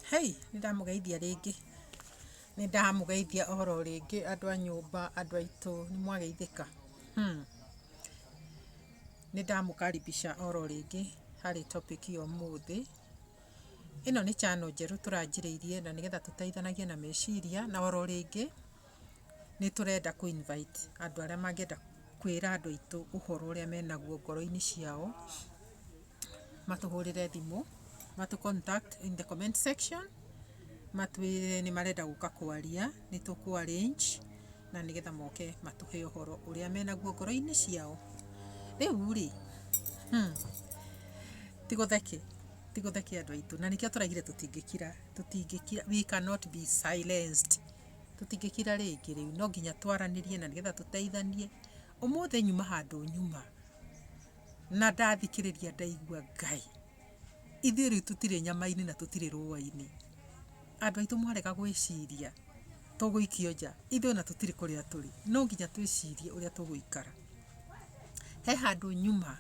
Hei, nĩ ndamũgeithia rĩngĩ, nĩ ndamũgeithia oro rĩngĩ andũ a nyũmba, andũ aitũ, nĩ mwageithĩka? Nĩ ndamũkaribisha oro rĩngĩ harĩ topic ya ũmũthĩ. Ĩno nĩ channel njerũ tũranjĩrĩirie na nĩgetha tũteithanagie na meciria na oro rĩngĩ nĩ tũrenda kũ invite andũ arĩa mangĩenda kwĩra andũ aitũ ũhoro ũrĩa menaguo ngoro-inĩ ciao, matũhũrĩre thimũ, matũ contact in the comment section, matwĩre nĩ marenda gũka kwaria, nĩ tũkũ arrange na nĩgetha moke matũhe ũhoro ũrĩa menaguo ngoro-inĩ ciao. Rĩu rĩ, hmm, ti gũtheke, ti gũtheke andũ aitũ, na nĩkĩo tũraugire tũtingĩkira, tũtingĩkira, we cannot be silenced. tũtingĩkira rĩngĩ rĩu no nginya twaranĩrie na nĩgetha tũteithanie ũmũthĩ nyuma handũ nyuma na ndathikĩrĩria ndaigua ngai ithuĩ rĩu tũtirĩ nyama-inĩ na tũtirĩ rũa-inĩ andũ aitũ mwarega gwĩciria tũgũikio nja ithuĩ ona tũtirĩ kũrĩa tũrĩ no nginya twĩcirie ũrĩa tũgũikara he handũ nyuma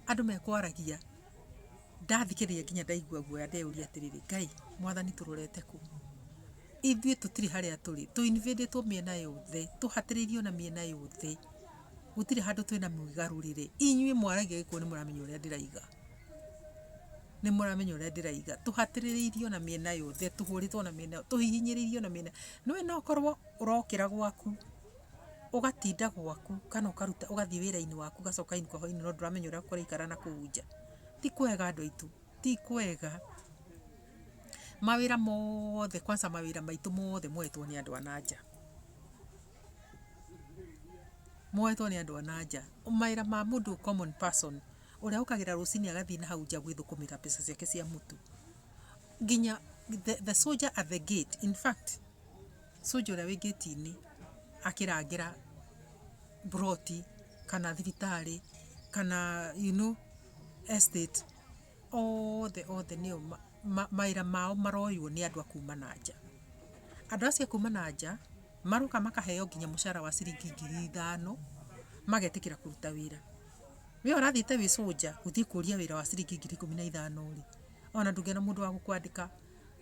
andũ mekwaragia ndathikĩrĩria nginya ndaigua guoya ndeyũria atĩrĩrĩ ngai mwathani tũrorete kũ Ithuĩ tũtirĩ harĩa tũrĩ, tũ invadĩtwo mĩena yothe, tũhatĩrĩirio na mĩena yothe, gũtirĩ handũ twĩna mwĩgarũrĩre. Inyuĩ mwaragia gĩkũyũ nĩ mũramenya ũrĩa ndĩraiga, nĩ mũramenya ũrĩa ndĩraiga. Tũhatĩrĩrĩirio na mĩena yothe, tũhũrĩtwo na mĩena yothe, tũhihinyĩrĩirio na mĩena. Nĩ ũĩ no ũkorwo ũrokĩra gwaku, ũgatinda gwaku kana ũkaruta ũgathiĩ wĩra-inĩ waku ũgacoka inũka hwainĩ no ndũramenya ũrĩa kũraikara nakũu nja. Ti kwega andũ aitũ, ti kwega. mawĩra mothe kwanza mawĩra maitũ mothe moetwo nĩ andũ a na nja. Moetwo nĩ andũ a na nja. Mawĩra ma mũndũ common person ũrĩa ũkagĩra rũcinĩ agathiĩ na hau nja gwĩthũkũmĩra mbeca ciake cia mũtu. Nginya the, the soldier at the gate. In fact, soldier ũrĩa wĩ gate-inĩ akĩrangĩra buroti kana thibitarĩ kana you know, estate othe othe nĩo mawĩra mao maroywo nĩ andũ a kuma na nja. Andũ acio a kuma na nja maroka makaheo nginya mũcara wa ciringi ngiri ithano magetĩkĩra kũruta wĩra. We ũrathiĩte wĩ soldier gũthiĩ kũria wĩra wa ciringi ngiri ikũmi na ithano rĩ, ona ndũngĩona mũndũ wa gũkwandĩka,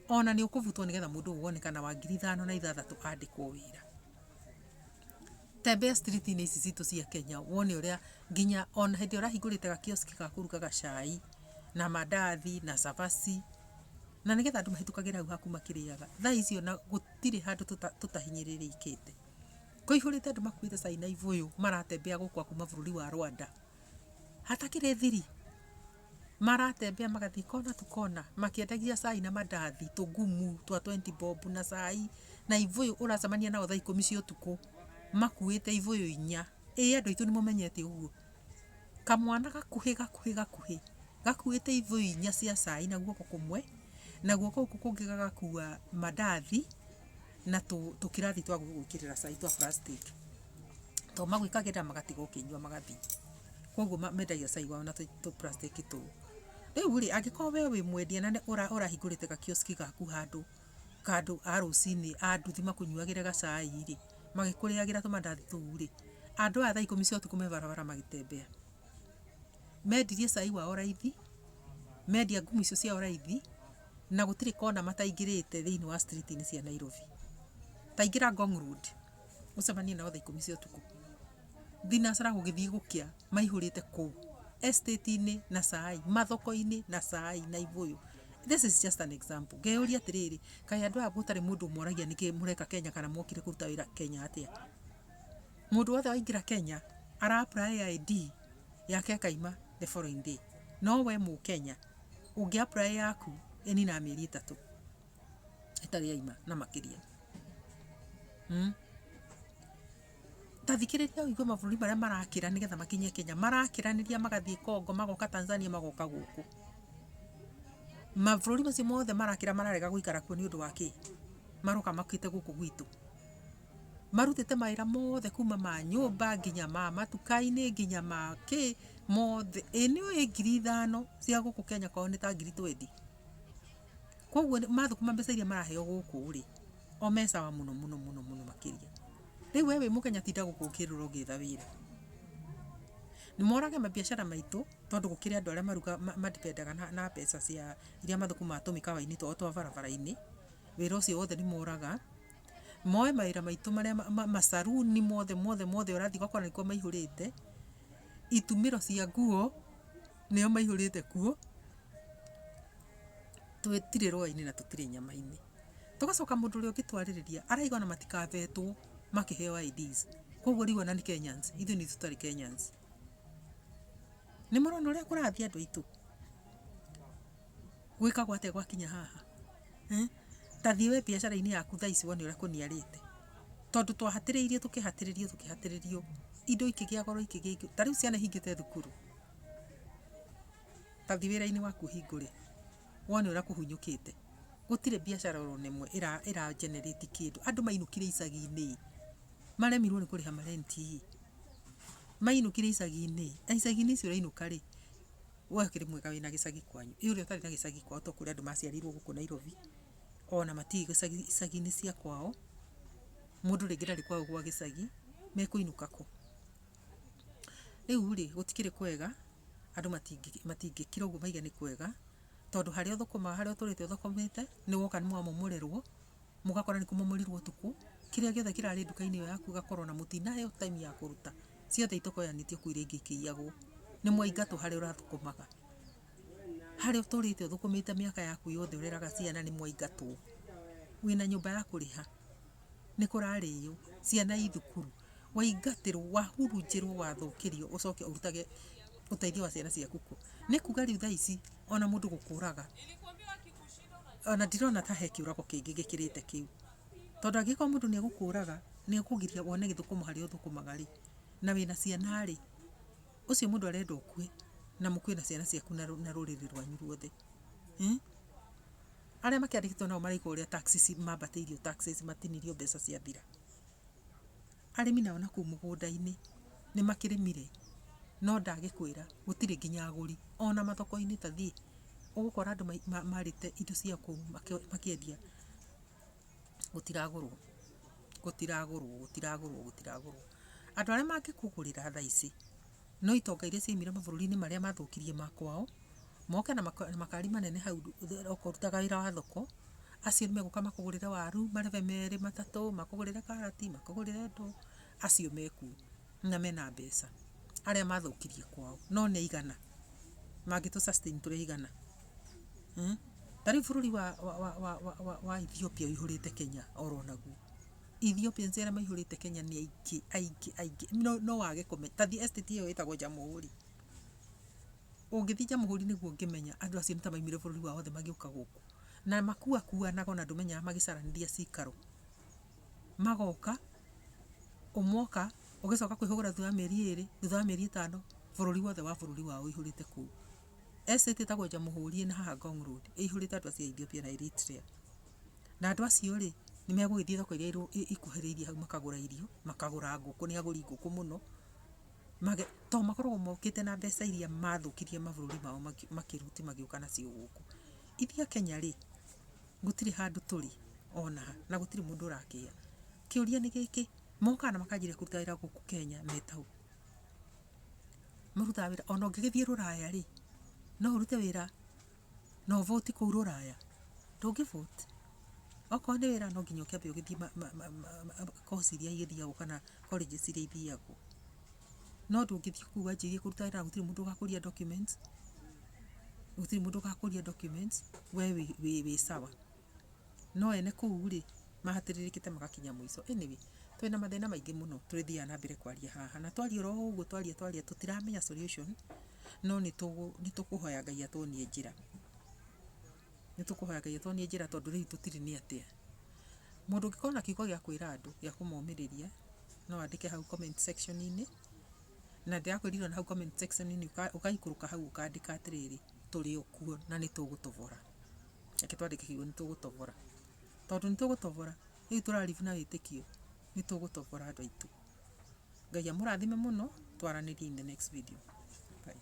ona nĩ ũkũbutwo nĩgetha mũndũ ũgũka wonekana wa ngiri ithano na ithathatũ andĩkwo wĩra. Tembea street -inĩ ici citũ cia Kenya wone ũrĩa nginya ona hĩndĩ ĩrĩa ũrahingũrĩte ga kiosk ga kũrugaga cai na mandathi na cabaci, na nĩgetha andũ mahĩtũkagĩre hau haku makĩrĩaga. Thaa ici ona gũtirĩ handũ tũtahinyĩrĩrĩkĩte. Kũihũrĩte andũ makuĩte cai na ibũyũ maratembea gũkũ a kuma bũrũri wa Rwanda hatakĩrĩ thiri. maratembea magathiĩ kona to kona makĩendagia cai na mandathi tũgumu twa twenty bob na cai na ibũyũ ũracemania nao thaa ikũmi cia ũtukũ makuĩte ibũyũ inya. Ĩĩ andũ aitũ nĩ mũmenyete ũguo? Kamwana gakuhĩ gakuhĩ gakuhĩ gakuĩte ibũyũ inya cia cai na guoko kũmwe na guoko gũkũ kũngĩ gagakua mandathi. na tũ- tũkĩrathi twa gwĩkĩrĩra cai twa plastic to magwĩkagĩrĩra magatiga ũkĩnyua magathi koguo ma- mendagia cai wao na tũ tũ plastic tũu rĩu rĩ angĩkorwo we wĩ mwendia na nĩ- ũra- ũrahingũrĩte gakioski gaku handũ kandũ a rũcinĩ a nduthi makũnyuagĩre gacai rĩ magĩkũrĩagĩra tũmandathi tũu rĩ andũ aya thaa ikũmi cia ũtukũ me barabara magĩtembea Mendirie cai wao raithi, mendia ngumu icio ciao raithi, na gũtirĩ kona mataingĩrĩte thĩinĩ wa street inĩ cia Nairobi. Ta ingĩra Ngong Road, ũcemanie nao thaa ikũmi cia ũtukũ. Thinacara gũgĩthiĩ gũkĩa maihũrĩte kũu, estate inĩ na cai, mathoko-inĩ na cai, Naibũyũ. This is just an example. Ngeyũria atĩrĩrĩ, kaĩ andũ aya gũtarĩ mũndũ ũmoragia nĩkĩ mũreka Kenya kana mwokire kũruta wĩra Kenya atĩa? Mũndũ wothe waingĩra Kenya ara apply ID yake ĩkaima the following day. No we Mũkenya ũngĩ apply yaku ĩninaga mĩeri ĩtatũ ĩtarĩ yaima na makĩria. Mm. Ta thikĩrĩria ũigue mabũrũri marĩa marakĩra nĩgetha makinye Kenya. Marakĩranĩria magathiĩ Congo, magoka Tanzania, magoka gũkũ. Mabũrũri macio mothe marakĩra mararega gũikara kuo nĩ ũndũ wa kĩ? Maroka mokĩte gũkũ gwitũ. marutĩte mawĩra mothe kuma ma nyũmba nginya ma matuka-inĩ nginya ma kĩ mothe ĩ nĩ ũĩ ngiri ithano cia gũkũ Kenya kwao nĩ ta ngiri twendi koguo nĩ- mathũkũma mbeca iria maraheo gũkũ rĩ o me sawa mũno mũno mũno mũno makĩria rĩu we wĩ mũkenya tinda gũkũ ũkĩrũra ũgĩetha wĩra nĩ morage mabiacara maitũ tondũ gũkĩrĩ andũ arĩa maruga ma- madipendaga na, na mbeca cia iria mathũkũmaga tũmĩkawa-inĩ twao twa barabara-inĩ wĩra ũcio wothe nĩ moraga Moe mawĩra maitũ marĩa macaruni mothe mothe mothe ũrathiĩ ũgakora nĩkuo maihũrĩte, itumĩro cia nguo nĩo maihũrĩte kuo, tũtirĩ rũa-inĩ na tũtirĩ nyama-inĩ. Tũgacoka mũndũ ũrĩa ũngĩtwarĩrĩria arauga ona matikavetwo makĩheo IDs. Kũguo rĩu ona nĩ Kenyans? Ithuĩ nĩ tũtarĩ Kenyans. Nĩ mũrona ũrĩa kũrathiĩ andũ aitũ? Gwĩkagwo atĩa gwakinya haha? Eh? Ta thiĩ we biacara-inĩ yaku thaa ici wone ũrĩa kũniarĩte. Tondũ twahatĩrĩirio tũkĩhatĩrĩrio tũkĩhatĩrĩrio indo ikĩgĩa goro ikĩgĩa igĩ. Ta rĩu ciana ihingĩte thukuru. Ta thiĩ wĩra-inĩ waku ũhingũre. Wone ũrĩa kũhunyũkĩte. Gũtirĩ biacara oro na ĩmwe ĩra ĩra generate kĩndũ. Andũ mainũkire icagi-inĩ ĩ. Maremirwo nĩ kũrĩha marenti ĩ. Mainũkire icagi-inĩ ĩ. Na icagi-inĩ icio ũrainũka rĩ. We ũkĩrĩ mwega wĩna gĩcagi kwanyu. Ĩ ũrĩa ũtarĩ na gĩcagi kwao to kũrĩ andũ maciarirwo gũkũ Nairobi. Ona matiũĩ gĩcagi icagi-inĩ cia kwao. Mũndũ rĩngĩ ndarĩ kwao gwa gĩcagi, mekũinũka kũ? Rĩu rĩ, gũtikĩrĩ kwega, andũ matingĩkira ũguo mauge nĩ kwega, tondũ harĩa ũthũkũmaga harĩa ũtũrĩte ũthũkũmĩte, nĩ woka nĩ wamomorerwo. mũgakora nĩ kũmomorirwo ũtukũ, kĩrĩa gĩothe kĩrarĩ nduka-inĩ ĩyo yaku ĩgakorwo ona mũtinaheo time ya kũruta, ciothe itokoyanĩtio kũu rĩngĩ ikĩiyagwo. Nĩ mwaingatwo harĩa ũrathũkũmaga. Harĩa ũtũrĩte ũthũkũmĩte mĩaka yaku yothe ũreraga ciana nĩ mwaingatwo. Wĩna nyũmba ya kũrĩha, nĩ kũrarĩo, ciana i thukuru, waingatĩrwo, wahurunjĩrwo, wathũkĩrio ũcoke ũrutage ũteithio wa ciana ciaku kũ? Nĩ kuga rĩu thaa ici ona mũndũ gũkũraga. ona ndirona ta he kĩũrago kĩngĩ gĩkĩrĩte kĩu. Tondũ angĩkorwo mũndũ nĩ egũkũraga, nĩ ekũgiria wone gĩthũkũma harĩa ũthũkũmaga rĩ, na wĩna ciana rĩ, ũcio mũndũ arenda ũkue na mũkue na ciana ciaku na rũrĩrĩ rwanyu ruothe. Arĩa makĩandĩkĩtwo nao maraigua ũrĩa taxes mambatĩirio taxes matinirio mbeca ciathira. Arĩmi nao nakũu mũgũnda-inĩ nĩ makĩrĩmire no ndagĩkwĩra gũtirĩ nginya agũri. Ona mathoko-inĩ ta thiĩ ũgũkora andũ marĩte indo cia kũu makĩendia gũtiragũrwo, gũtiragũrwo, gũtiragũrwo, gũtiragũrwo. Andũ arĩa mangĩkũgũrĩra thaa ici No itonga iria ciaimire mabũrũri-inĩ marĩa mathũkirie ma kwao, moke na makari manene hau ũkũrutaga wĩra wa thoko, acio nĩmegũka makũgũrĩre waru marebe merĩ matatũ, makũgũrĩre karati, makũgũrĩre ndũ, acio mekuo na mena mbeca, arĩa mathũkirie kwao. No nĩ aigana? Mangĩtũ sustain tũrĩ aigana? Ta rĩu bũrũri wa Ethiopia ũihũrĩte Kenya oro naguo. Ethiopians arĩa maihũrĩte Kenya nĩ aingĩ aingĩ aingĩ no, no wage kũmenya ta thi estate ĩyo ĩtagwo Jamhuri ũngĩthi Jamhuri nĩguo ũngĩmenya andũ acio nĩ ta maimire bũrũri wao othe magĩũka gũkũ na makua kuanaga ona ndũmenyaga magĩcaranithia cikaro magoka ũmoka ũgĩcoka kwĩhũgũra thutha wa mĩeri ĩrĩ thutha wa mĩeri ĩtano bũrũri wothe wa bũrũri wao ũihũrĩte kũu estate ĩtagwo Jamhuri ĩna haha Ngong Road ĩihũrĩte andũ acio a Ethiopia na Eritrea Na andũ acio-rĩ, nĩmegũgĩthiĩ thoko iria ikuhĩrĩirie hau makagũra irio, makagũra ngũkũ nĩ agũri ngũkũ mũno, to makoragwo mokĩte na mbeca iria mathũkirie mabũrũri mao makĩruti magĩũka nacio gũkũ. Ithuĩ Akenya-rĩ, gũtirĩ handũ tũrĩ ona ha, na gũtirĩ mũndũ ũrakĩya. Kĩũria nĩ gĩkĩ, mokaga na makanjĩrĩria kũruta wĩra gũkũ Kenya me ta ũũ? Marutaga wĩra, ona ũngĩgĩthiĩ rũraya-rĩ, no ũrute wĩra. No ũvoti kũu rũraya? Ndũngĩ voti. Okorwo nĩ wĩra no nginya ũkĩambe ũgĩthiĩ ma, ma, ma, ma, ma, kosi iria igĩthiagwo kana colleges iria ithiagwo. No ndũngĩthiĩ kũu wanjĩrĩrie kũruta wĩra na gũtirĩ mũndũ ũgakũria documents, gũtirĩ mũndũ ũgakũria documents, we wĩ, wĩ, wĩ sawa. No ene kũu rĩ, mahatĩrĩrĩkĩte magakinya mũico. Anyway, twĩ na mathĩna maingĩ mũno tũrĩthiaga na mbere kwaria haha. Na twaria oro ũguo twaria twaria tũtiramenya solution, no nĩ tũkũhoya Ngai atuonie njĩra. Nĩ tũkũhoya Ngai atuonie njĩra tondũ rĩu tũtirĩ nĩ atĩa. Mũndũ ũngĩkorwo na kiugo gĩa kwĩra andũ gĩa kũmomĩrĩria, no andĩke hau comment section inĩ, na ndĩrakwĩrire ona hau comment section inĩ ũgaikũrũka hau ũkandĩka atĩrĩrĩ, tũrĩ o kuo na nĩ tũgũtobora. reke twandĩke kiugo nĩ tũgũtobora tondũ nĩ tũgũtobora rĩu tũraribu na wĩtĩkio nĩ tũgũtobora andũ aitũ ngai amũrathime mũno twaranĩrie in the next video Bye.